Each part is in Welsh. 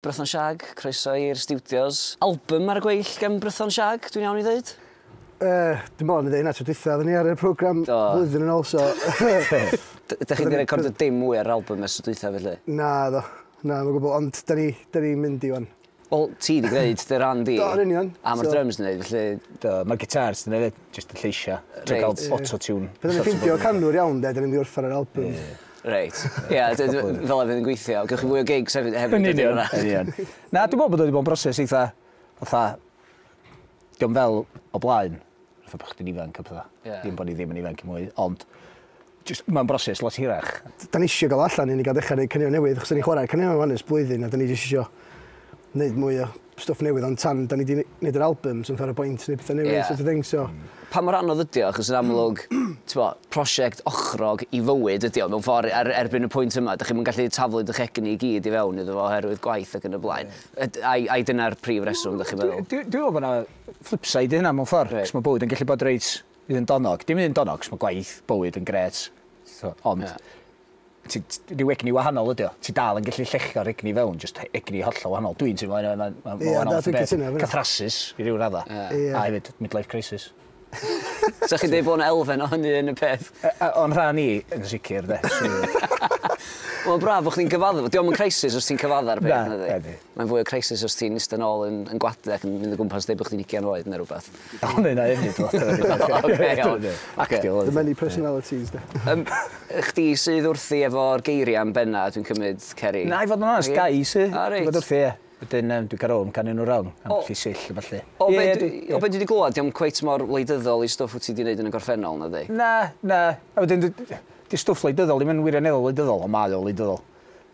Brython Shag, croeso i'r stiwdios. Albym ar y gweill gan Brython Shag, dwi'n iawn i ddeud? Yy, dwi'n meddwl o'n i'n dweud hynna tro dwytha, oedden ni ar y programme Do. flwyddyn yn ôl, so... D- Dych chi wedi recordio dim mwy ar yr album ers y dwytha felly? Na, do. Na, mae'n gwybod, ond da ni, da ni mynd i wan. Wel, ti wedi gwneud dy ran di. Do, yn union. A mae'r So- drums yn gwneud, felly... Do, mae'r gitars yn edrych jyst y lleisiau. Dwi'n Reit. cael auto-tune. Pan o'n i'n ffindio canwr iawn, de, da ni'n mynd i orffen yr album. Reit. Ie, a d- d- fel arfer yn gweithio. Gewch chi fwy o gigs hefyd hefyd Yn union, yn union. Na, dwi'n meddwl bod o wedi bod yn broses eitha, fatha, diom fel o blaen, fatha bod chdi'n ifanc a pethau. Ie. Dim bod ni ddim yn ifanc mwy, ond just, mae'n broses lot hirach. Da ni eisiau gael allan i ni gael dechrau gwneud caneuon newydd, achos da ni'n chwarae caneuon rwan ers blwyddyn a da ni jyst eisiau gwneud mwy o stwff newydd ond tan 'da ni 'di ne- neud yr albym so fatha roi boint neu petha newydd Ie. so't of thing so... Hmm. Pa mor anodd ydi o achos yn amlwg t'bo' prosiect ochrog i fywyd ydi o mewn ffor er erbyn y pwynt yma dych chi'm yn gallu taflu dych egni i gyd i fewn iddo fo oherwydd gwaith ac yn y blaen. Yd- ai ai dyna'r prif reswm dych chi'n meddwl? Dwi dwi dwi me'wl bo' 'na flipside i hynna mewn ffor Reit. 'c'os ma' bywyd yn gellu bod reit un donog dim un donog 'c'os ma' gwaith bywyd yn grêt t'o' ond Ie. Ti, ti, rhyw egni wahanol ydi o. Ti dal yn gallu llechio'r egni fewn, just egni hollol wahanol. Dwi'n teimlo yna, mae'n ma, ma wahanol fath o beth. Catharsis, i ryw radda. Yeah. A hefyd, midlife crisis. Sa chi'n dweud bod yna elfen o hynny yn y peth? O'n rhan i, yn sicr, de. Mae'n braf bod chdi'n cyfadda. Diolch yn crisis os ti'n cyfadda'r peth. Na, Mae'n fwy o crisis os ti'n istedd yn ôl yn, yn gwadau ac yn mynd o gwmpas dweud bod chdi'n ugian oed neu rhywbeth. O'n i 'na efyd oce iawn. Actio oedd. The many personalities 'de. Yym chdi sydd wrthi efo'r geiria yn benna dwi'n cymyd Ceri? Na i fod yn onast gai sy. O reit. Fod wrthi ie. Wedyn yym dwi ga'l ofn canu nw rownd am gellu sill a ballu. O be' dwi o be' dwi 'di glwad dio'm cweit mor wleidyddol i stwff wt ti 'di neud yn y gorffennol nadi? Na na a wedyn 'di stwff wleidyddol ddim yn wirioneddol wleidyddol on' mae o wleidyddol.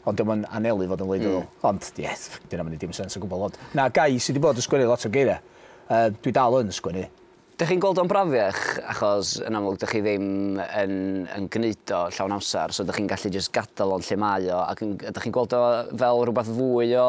Ond dio'm yn anelu fod yn wleidyddol. Ond ie, dyna ddim yn neud dim sense o gwbwl. Ond na, Guy, sy 'di bod yn sgwennu lot o geiria', yy, dwi dal yn sgwennu. Dych chi'n gweld o'n brafiach achos yn amlwg dych chi ddim yn yn gneud o llawn amser so dych chi'n gallu jyst gadael o'n lle mae o ac yn... ydych chi'n gweld o fel rhywbeth fwy o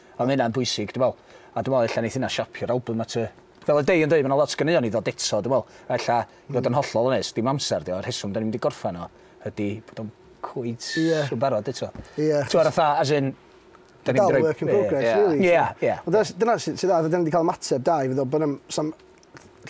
A ma' hynna'n bwysig, dwi me'wl. A dwi me'wl ella neith hynna siapio'r albym at y... Fel oedd Dei yn deud, ma' 'na lot o ganeuon i ddod eto, dwi me'wl. A ella, i fod yn hollol onest, dim amser 'di o. Y rheswm 'dan ni'm 'di gorffen o ydi bod o'n cweit Ie. yn barod eto. Ie. T'mod fatha, as in, 'dan ni'm 'di roi... Dal work in progress, rili. Ie, ie. Ond dyna, dyna sy- sy'n dda, 'dan ni 'di ca'l ymateb da i fe ddo, bo' 'na'm, 'sa'm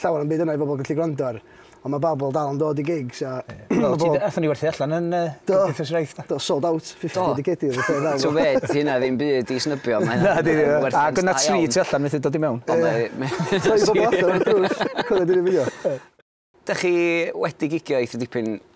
llawer o'm byd yna i bobl gallu gwrando ar. Ond mae babl dal yn dod i gigs a... Wel, ti athon ni werthu allan yn uh, Cymdeithas Raith. Do, sold out, 50 digedi. Ti'n fed, hynna ddim byd i snybio. Na, di, a gyna tri ti allan fethu dod i mewn. Ond mae... Troi bobl allan o'r drws, cwrdd i'n fideo. Da chi wedi gigio eitha dipyn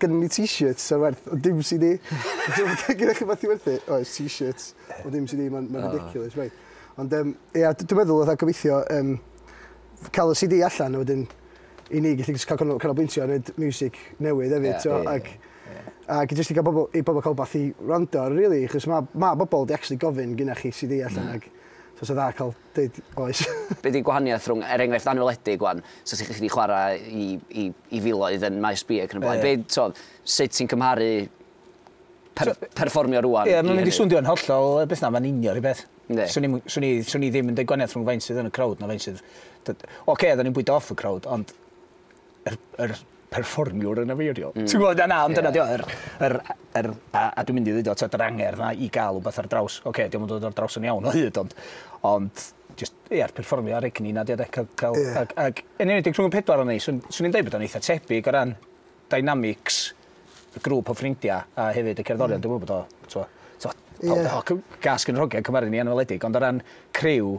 Gynnon ni t-shirts sy'n werth o dim si di. Gyda chi beth i werthu? Oes, t-shirts o dim si di, mae'n ma ridiculous, right. Ond um, ia, dwi'n meddwl oedd gobeithio um, cael y CD allan a wedyn i ni gallu cael canolbwyntio a wneud music newydd hefyd, yeah, yeah, ac, yeah. ac jyst i gael bobl, i bobl cael beth i rando, really, chos mae ma bobl di actually gofyn gyda chi CD allan, mm. ac so sy'n dda cael Deud oes. Be di gwahaniaeth rhwng, er enghraifft anweledig wan, so ti di chwarae i, i, i filoedd yn Maes B ac yn y blaen, be, t'od, sut ti'n cymharu per, perfformio rwan Ie, mae'n mynd i swndio yn hollol beth na, mae'n union rhyw beth. Yndi. Swn i'm, swn i, swn i ddim yn deud gwahaniaeth rhwng faint sydd yn y crowd na faint sydd... Oce, da ni'n bwydo off y crowd, ond yr, yr perfformiwr yn afeirio. Mm. Ti'n gwybod, na, ond dyna yeah. yr, yr, yr, a, a dwi'n mynd i ddweud o, yr angerdd na i gael rhywbeth ar draws, oce, okay, diolch yn dod ar draws yn iawn o hyd, ond, ond just, ie, yeah, perfformio ar egni na, diolch, cael, cael, yeah. ag, ag, yn enwedig rhwng y pedwar o'n ei, swn i'n dweud bod o'n eitha tebyg o ran dynamics y grŵp o ffrindiau a hefyd y cerddorion, mm. dwi'n gwybod bod o, ti'n gwybod, yeah. gas gyn rhogiau cymaru ni anweledig, ond o ran criw,